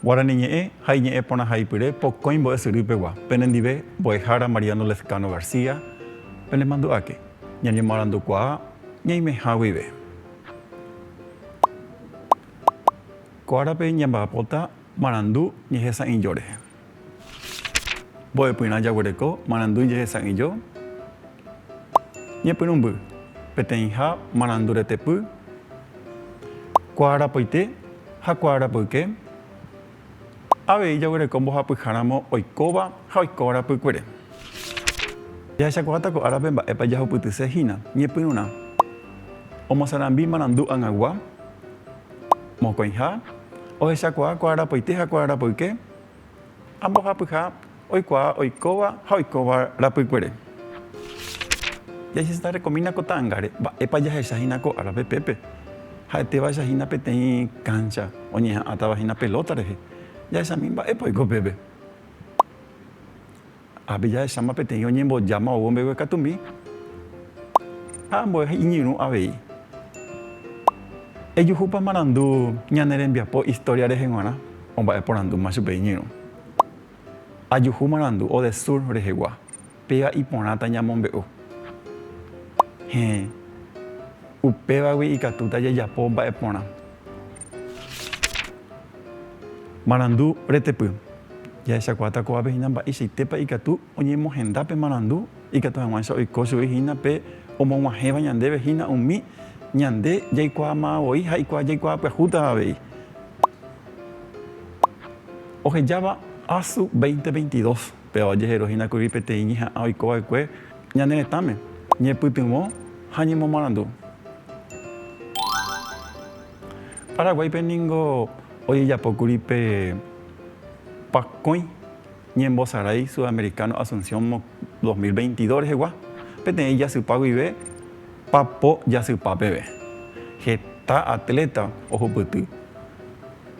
Guarani Ñe'ẽ ha Iñe'ẽ Porãhaipyre Pokõi Mbo'esyrýpegua Penendive Mbo'ehára Mariano Lezcano García Penemandu'áke ñañemoarandukuaa ñaimeha guive. Ko árape ñamba'apóta marandu ñehesa'ỹijo rehe. Mbo'epyrã jaguereko marandu jehesa'ỹijo ñepyrũmby peteĩha maranduretepy, kuaarapoite ha kuaarapyke Avei jaguereko mbohapyháramo oikóva ha oiko rapykuere. Jahechakuaáta ko árape mba'épa jahupytyse hína ñepyrũrã. Omosarambi marandu ag̃agua, mokõiha, ohechakuaa kuaarapoite ha kuaarapoyke ha mbohapyha Oikuaa oikóva ha oikóva rapykuere. Jaiseseta rekomína ko ta'ãngáre, mba'épa jahecha hína ko árape pépe. Ha'ete vaecha hína peteĩ káncha, oñeha'ãtava hína pelóta rehe. Jahechami mba'épa oiko pépe. Ápe jahecháma peteĩ oñembojáma ou ombeguekatumi ha ambue iñirũ avei. Ejuhúpa marandu ñane rembiapo istória rehe g̃uarã? Omba'eporandúma chupe iñirũ. Ajuhu marandu o de sur rehegua, péva iporãta ñamombe'u. Héẽ, upévagui ikatúta jajapo mba'eporã. Marandu retepy. Jahechakuaáta kóvape hína mba'eichaitépa ikatu oñemohenda pe marandu ikatu hag̃uáicha oiko chugui hína pe omog̃uahẽva ñandéve hína umi ñande jaikuaamavoi ha jaikuaa jaikuaa pyahúta avei. Ohejáva Asu 2022 péva ojeheru hína kuri peteĩ ñeha'ã oiko va'ekue ñane retãme, ñepytyvõ ha ñemomarandu. Paraguáipe ningo ojejapo kuri pe pakõi ñembosarái Sudamericano Asunción 2022 rehegua, peteĩ jasypa guive papo jasypa peve. Heta atleta ohupyty.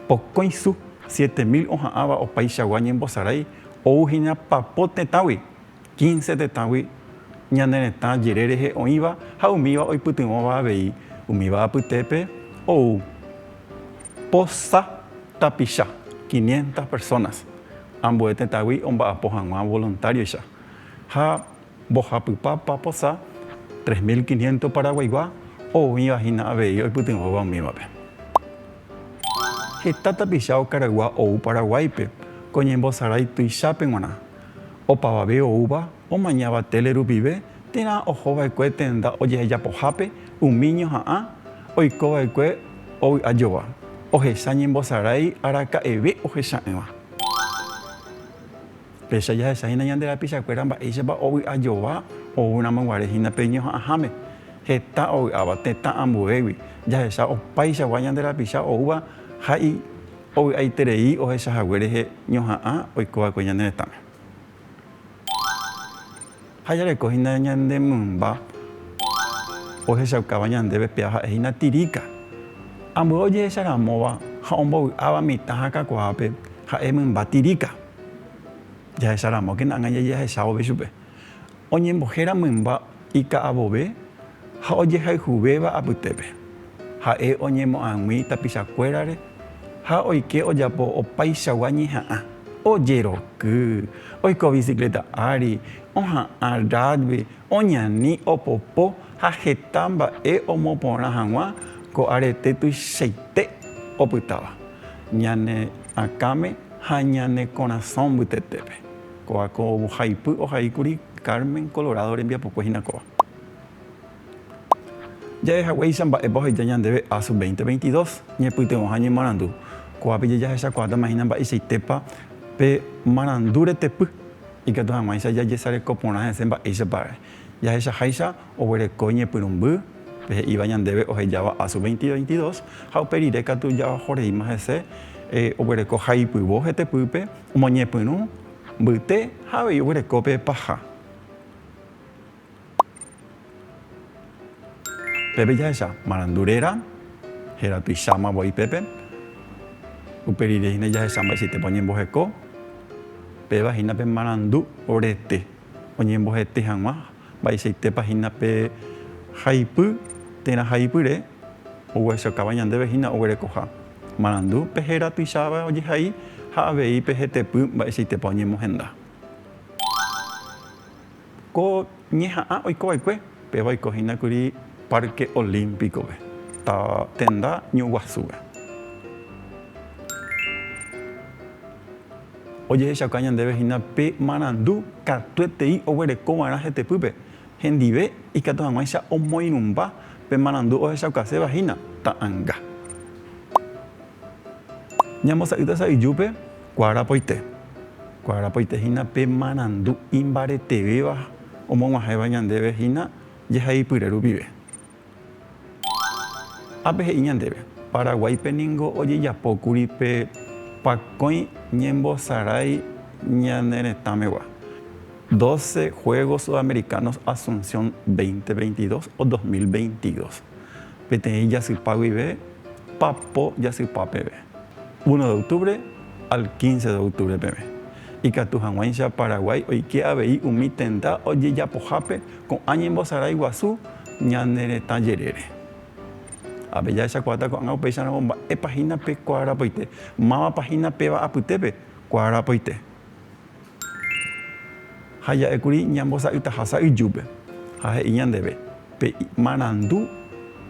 Pokõi su, siete mil oha'ãva opaichagua ñembosarái ouhina papo tetãgui, quince tetãgui ñane retã jere rehe oĩva ha umíva oipytyvõva avei, umíva apytépe ou po sa tapicha, quinientas personas, ambue tetãgui omba'apo hag̃ua voluntario-icha ha Mbohapypa paposa, tres mil quinientos paraguaigua, oĩva hína avei oipytyvõva umívape. Heta tapicha okaraygua ou Paraguáipe ko ñembosarái tuichápe g̃uarã. Opavave oúva omañáva tele rupive térã oho va'ekue tenda ojehejapohápe umi ñoha'ã oiko va'ekue ovy'ajogua, ohecha ñembosarái araka'eve ohecha'ỹva. Péicha jahecha hína ñande rapichakuéra mba'éichapa ovy'ajova oúramo guare hína pe ñoha'ãháme, heta ovy'áva tetã ambuégui, jahecha opaichagua ñande rapicha oúva ha ovy'aiterei ohechahague rehe ñoha'ã oiko va'ekue ñane retãme. Ha jareko hína ñande mymba ohechaukáva ñandéve pea ha'e hína tiríka. Ambue ojehecha ramóva ha ombovy'áva mitã ha kakuaápe ha'e mymba tiríka. Jahecha ramókena ág̃a jajahechávo pe chupe. Oñembohéra mymba ika'avove Ha ojehayhuvéva apytépe, ha'e oñemoag̃ui tapichakuérare ha oike ojapo opaichagua ñeha'ã, ojeroky, oiko bicicleta ári, oha'ã rugby, oñani, opopo ha heta mba'e omoporã hag̃ua ko arete tuichaite opytáva ñane akãme ha ñane korasõ mbytetépe. Kóva ko ovohaipy ohaíkuri Carmen Colorado rembiapokue hína kóva. Jave haguéicha mba'épa oheja ñandéve Asu 2022, ñepytyvõha ñemarandu. Ko'ápe jahechakuaátamah hína mba'eichaitépa pe marandu retepy, ikatu hag̃uáicha jajesareko porã hese mba'éichapare. Jahechaháicha oguereko ñepyrũmby pe he'íva ñandéve ohejáva Asu 2022 ha upe rire katu jaojoreíma hese oguereko haipyvo hetepýpe, omoñepyrũ mbyte ha avei oguereko pe paha. Pépe jahecha marandu réra, héra tuicháma voi pépe. Upe rire hína jahecha mba'eichaitépa oñemboheko. Péva hína pe marandu orete, oñembohete hag̃ua mba'eichaitépa hína pe haipy, térã haipyre ogueresokáva ñandéve hína oguerekoha. Marandu pe héra tuicháva ojehai ha avei pe hetepy mba'eichaitépa oñemohenda. Ko ñeha'ã oiko va'ekue, péva oiko hína kuri Parque Olímpico-pe, táva tenda ñuguasúpe. Ojehechauka ñandéve hína pe marandu katuetei oguereko va'erã hetepýpe, hendive ikatu hag̃uáicha omoirũmba pe marandu ohechaukaséva hína ta'anga. Ñambosa'ýta sa'yjúpe. Kuarapoite. Kuarapoite hína pe marandu imbaretevéva omog̃uahẽva ñandéve hína jehaipyre rupive. Ápe he'i ñandéve, Paraguáipe ningo ojejapókuri pe pakõi ñembosarái ñane retãmegua, Doce Juegos Sudamericanos Asunción veinte veintidós o dos mil veintidós, peteĩ jasypa guive, papo jasypa peve. Uno de octubre al quince de octubre peve, ikatu hag̃uáicha Paraguái oike avei umi tenda ojejapohápe ko'ã ñembosarái guasu ñane retã jerére. Ápe jahechakuaáta ko'ág̃a upéicharamo mba'épa hína pe kuaarapoite, mávapa hína péva apytépe kuaarapoite. Ha ja'ékuri ñambosa'ytaha sa'yjúpe, ha he'i ñandéve, Pe marandu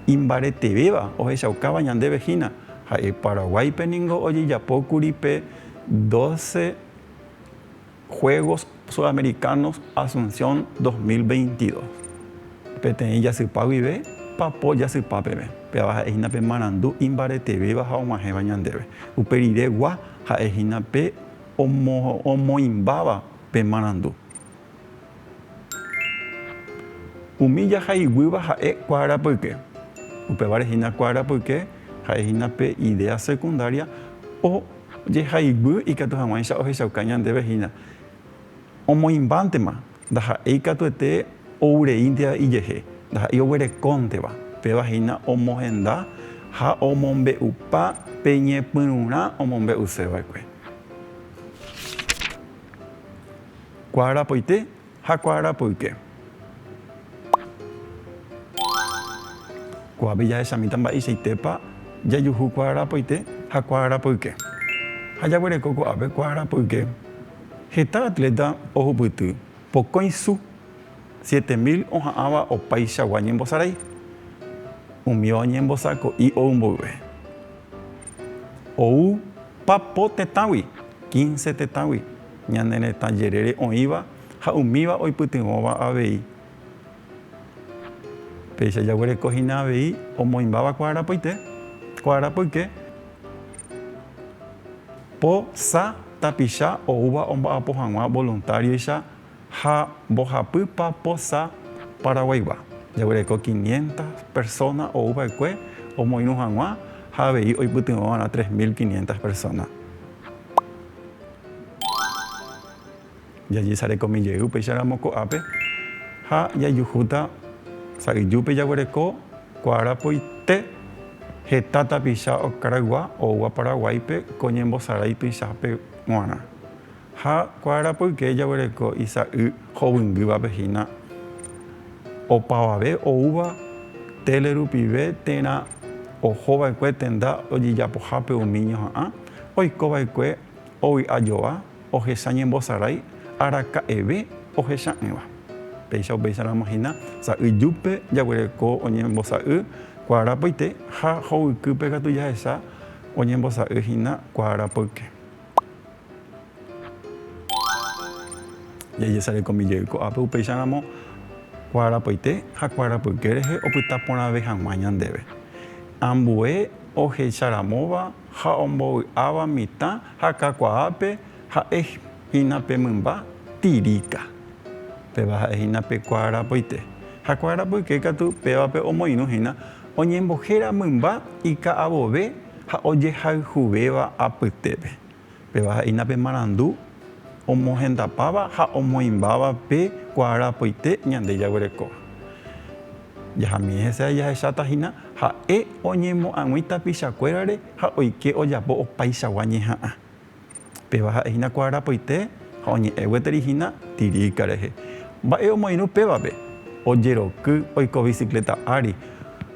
imbaretevéva ohechaukáva ñandéve hína, ha'e Paraguáipe ningo ojejapókuri pe doce Juegos Sudamericanos Asunción dos mil veintidós. Peteĩ jasypa guive, papo jasypa peve. Péva ha'e hína pe marandu imbaretevéva ha og̃uahẽva ñandéve. Upe rire gua ha'e hína pe. omoĩmbáva pe marandu. Umi jahaiguýva ha'e kuaarapyke. Upévare hína kuaarapyke ha'e hína pe idéa sekundária ojehaiguy ikatu hag̃uáicha ohechauka ñandéve hína omoĩmbántema. Ndaha'éi katuete oureínteva ijehe, ndaha'éi oguerekónteva. Péva hína omohenda ha omombe'upa pe ñepyrũrã omombe'useva'ekue. Kuaarapoite ha kuaarapoyke. Ko'ápe jahechamíta mba'eichaitépa jajuhu kuaarapoite ha kuaarapoyke. Ha jaguereko ko'ápe kuaarapoyke. Heta atléta ohupyty pokõi su, siete mil oha'ãva opaichagua ñembosarai. Umi oñembosako'i ou mboyve ou papo tetãgui, quince tetãgui, ñane retã jerére oĩva ha umíva oipytyvõva avei. Péicha jaguereko hína avei omoĩmbáva ko arapoite, ko arapoyke, po, sa, tapicha, oúva omba'apo hag̃ua voluntárioicha ha mbohapýpa po, sa, Paraguaygua. Jaguereko quinientas persóna ou va'ekue omoirũ hag̃ua ha avei oipytyvõ va'erã tres mil quinientas persóna. Jajesarekomi jey upéicharamo ko'ápe ha jaijuhúta sa'yjúpe jaguereko kuaarapoite heta tapicha okaraygua oúva Paraguáipe ko ñembosarái tuichape g̃uarã. Ha kuaarapoyke jaguereko isa'y hovyngývape hína opavave oúva tele rupive térã ohova'ekue tenda ojejapohápe umi ñoha'ã oikova'ekue ovy'ajova, ohecha ñembosarái araka'eve ohecha'ỹva. Péicha upéicharamo hína sa'y júpe jaguereko oñembosa'y kuaarapoite ha hovykýpe katu jahecha oñembosa'y hína kuaarapoyke. Jajesarekomi jey ko'ápe upéicharamo kuaarapoite ha kuaarapoyke rehe opyta porãve hag̃ua ñandéve. Ambue ohecharamóva ha ombovy'áva mitã ha kakuaápe ha'e hína pe mymba tiríka. Péva ha'e hína pe kuaarapoite. Ha kuaarapoyke katu pévape omoirũ hína oñembohéra mymba ika'avove ha ojehayhuvéva apytépe. Péva ha'éina pe marandu omohendapáva ha omoĩmbáva pe kuaarapoite ñande jaguerekóva. Jahamiẽ hese ha jahecháta hína ha'e oñemoag̃ui tapichakuérare ha oike ojapo opaichagua ñeha'ã. Péva ha'e hína kuaarapoite ha oñe'ẽ gueteri hína tiríka rehe. Mba'e omoirũ pévape? Ojeroky, oiko bicicleta ári,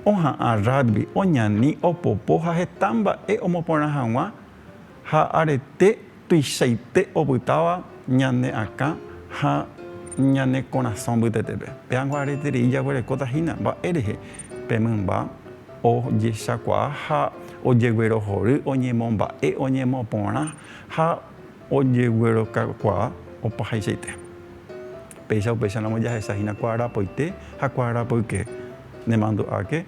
oha'ã rugby, oñani, opopo ha heta mba'e omoporã hag̃ua Ha arete tuichaite opytáva ñane akã ha ñane korasõ mbytetépe. Péango areterei jaguerekóta hína mba'e rehe pe mymba ojechakuaa ha ojeguerohory, oñemomba'e, oñemoporã ha ojeguerokakuaa opahaichaite. Péicha upéicha ramo jahecha hína kuarapoite ha kuarapoyke. Nemandu'áke,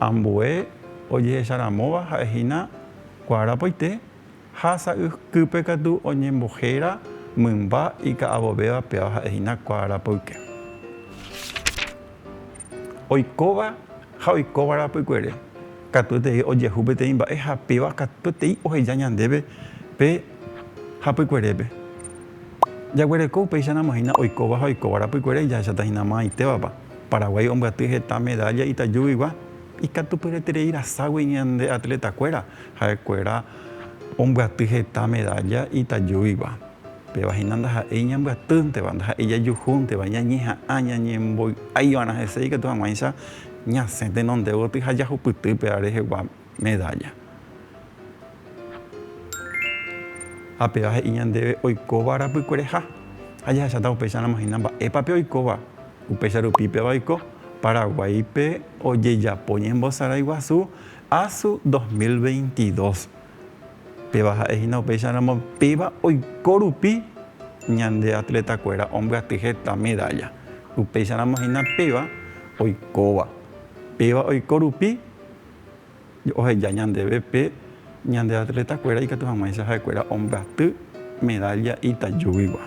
ambue ojehecharamóva ha'e hína Kuarapoite ha sa'ykýpe katu oñembohéra mymba ika'avovéva péva ha'e hína kuarapoyke. Oikóva ha oikóva rapykuere katuetei ojehu peteĩ mba'e ha péva katuetei oheja ñandéve pe hapykuerépe. Jaguereko upéicharamo hína oikóva ha oikóva rapykuere jahecháta hína mo'ãitévapa. Paraguái ombyaty heta medálla itajúguigua. Ikatupyretereiraságui ñande atletakuéra ha'ekuéra ombyaty heta medalla itajúigua. Péva hína ndaha'éi ñambyatynteva, ndaha'éi jajuhúnteva, ñañeha'ã ñañemboy'aiva'erã hese ikatu hag̃uáicha ñasẽ tenonde gotyo ha jahupytýpe rehegua medalla. Ha péva he'i ñandéve oikóva arapykuereha, ha jahecháta upéicharamo hína mba'épa pe oikóva. Upéicha rupi péva oiko Paraguáipe ojejapo ñembosaráiguasu Asu 2022. Péva ha'e hína upéicharamo péva oiko rupi ñande atletakuéra ombyaty heta medálla. Upéicharamo hína péva oikóva. Péva oiko rupi Oheja ñandéve pe ñande atletakuéra ikatu hag̃uáicha ha'ekuéra ombyaty medálla itajúgigua.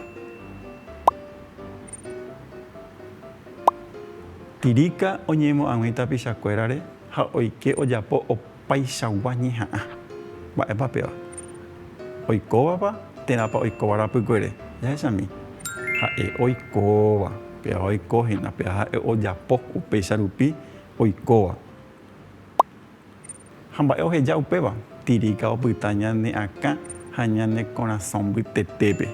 Tirika oñeimo'ãgui tapichakuérare ha oike ojapo opaichagua ñeha'ã. Mba'épa péva? Oikóvapa térãpa oikóva rapykuere? Jahechami. Ha'e oikóva. Péva oiko hína. Péva ha'e ojapo upéicha rupi oikóva. Ha mba'e oheja upéva? Tiríka opyta ñane akã ha ñane korasõ mbytetépe.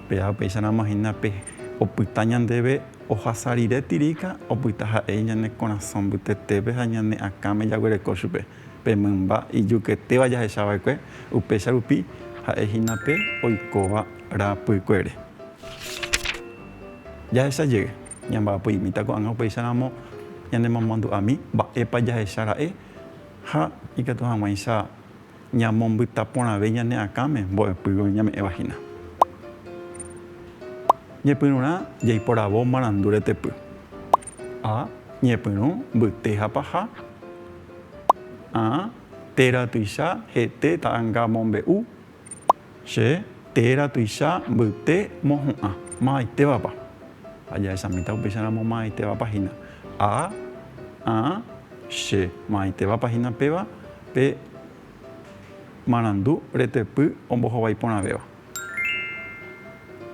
Péva upéicharamo hína pe opyta ñandéve ohasa rire tiríka opyta ha'e ñane korasõ mbytetépe ha ñane akãme jaguereko chupe. Pe mymba ijuketéva jahecha va'ekue, upéicha rupi ha'e hína pe oikóva rapykuere. Jahecha jey, Ñamba'apoimíta ko'ág̃a upeicharamo ñanemomandu'ami mba'épa jahecha ra'e ha ikatu hag̃uáicha ñamombyta porãve ñane akãme mbo'epýgui ñame'ẽva hína. Ñepyrũrã jaiporavo marandu retepy. A. Ñepyrũ mbyte ha paha. A. Téra tuicha, hete, ta'anga, mombe'u, Che téra tuicha mbyte mohu'ã. Mavaitevapa? Ajahesamíta upéicharamo mavaitevapa hína. A, a, che, mavaitevapa hína péva pe marandu retepy ombohovái porãvéva.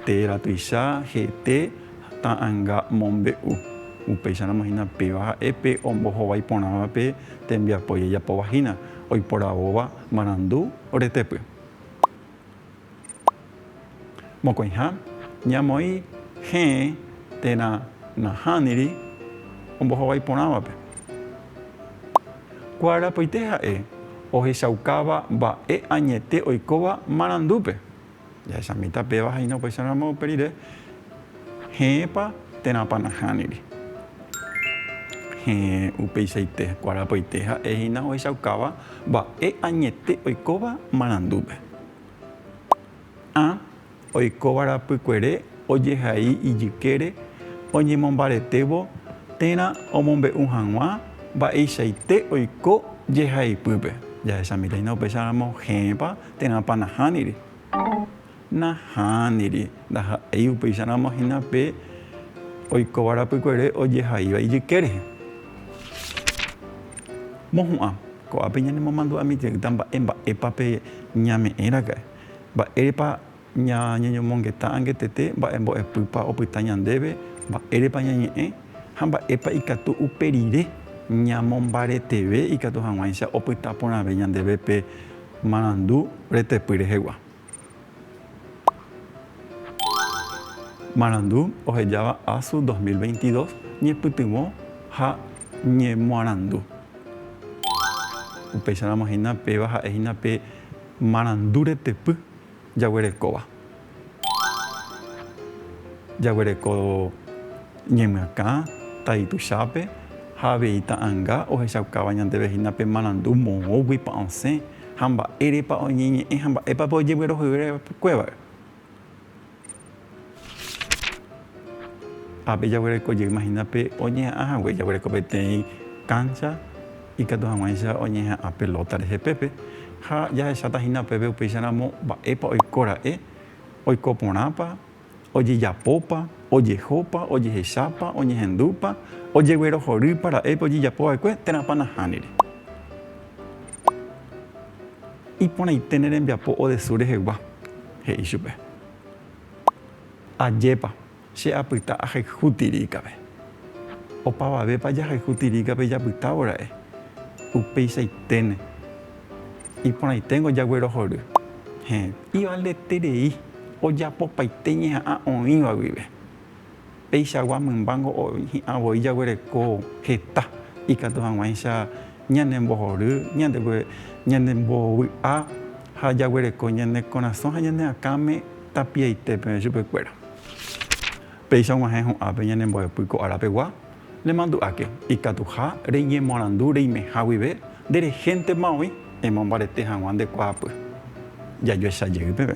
Téra tuicha hete ta'ãnga mombe'u. Upéicharamo hína péva ha'e pe ombohovái porãva pe tembiapo jajapóva hína, oiporavóva marandu. Oretepy. Mokõiha ñamoĩ hẽe térã nahániri ombohovái porãvape. Kuarapoite ha'e ohechaukáva mba'e añete oikóva marandúpe. Jahechamíta péva ha'éina upéicharamo upe rire, heẽpa térãpa nahániri. Heẽ upeichaite kuarapoite ha'e hína ohechaukáva mba'e añete oikóva marandúpe. A. Oikóva rapykuere ojehai ijykére oñemombaretévo térã omombe'u hag̃ua mba'eichaite oiko jehaipýpe. Jahechamíta hína upéicharamo heẽpa Térãpa nahániri? Nahániri. Ndaha'éi upéicharamo hína pe oikóva rapykuere ojehaíva ijyke rehe. Mohu'ã, ko'ápe ñanemomandu'amityryta mba'e mba'épa pe ñame'ẽraka'e. Mba'érepa. Ñañeñomongeta angetete mba'e mbo'epýpa opyta ñandéve, mba'érepa ñañe'ẽ ha mba'épa ikatu upe rire ñamombareteve ikatu hag̃uáicha opyta porãve ñandéve pe marandu retepy rehegua. Marandu ohejáva Asu 2022 ñepytyvõ ha ñemoarandu. Upéicharamo hína péva ha'e hína pe marandu retepy Jaguerekóva. Jaguereko ñemyakã tai tuichápe ha avei ta'anga ohechaukáva ñandéve hína pe marandu moõguipa osẽ ha mba'érepa oñeñe'ẽ ha mba'épape ojeguerohoryva'ekuévare. Ápe jaguereko jey mahina pe oñeha'ã hague, jaguereko peteĩ káncha ikatu hag̃uáicha oñeha'ã pelóta rehe pépe. Ha jahecháta hína upépe upéicharamo mba'épa oiko ra'e, oiko porãpa, ojejapópa, ojehopa, ojehechápa, oñehendúpa, ojeguerohorýpa ra'épe ojejapo va'ekue térãpa nahániri. Iporãite ne rembiapo odesúre hegua, he'i chupe. Ajépa, che apyta ahayhu tiríkape. Opavavépa jahayhu tiríkape japytávo ra'e? Upeicháiténe. Iporãiténgo jaguerohory. Heẽ, ivaldeterei ojapopaite ñeha'ã oĩva guive. Peichagua mymbángo hi'ã voi jaguereko heta ikatu hag̃uáicha ñane mbohory, ñande mbovy'a ha jaguereko ñane korasõ ha ñane akãme tapiaite peve chupe kuéra. Péicha og̃uahẽ ho'ápe ñane mbo'epy ko ára pegua, nemandu'áke ikatuha reñemorandu reimeha guive nde rehéntema oĩ emombarete hag̃ua nde kuaapy. Jajoecha jey peve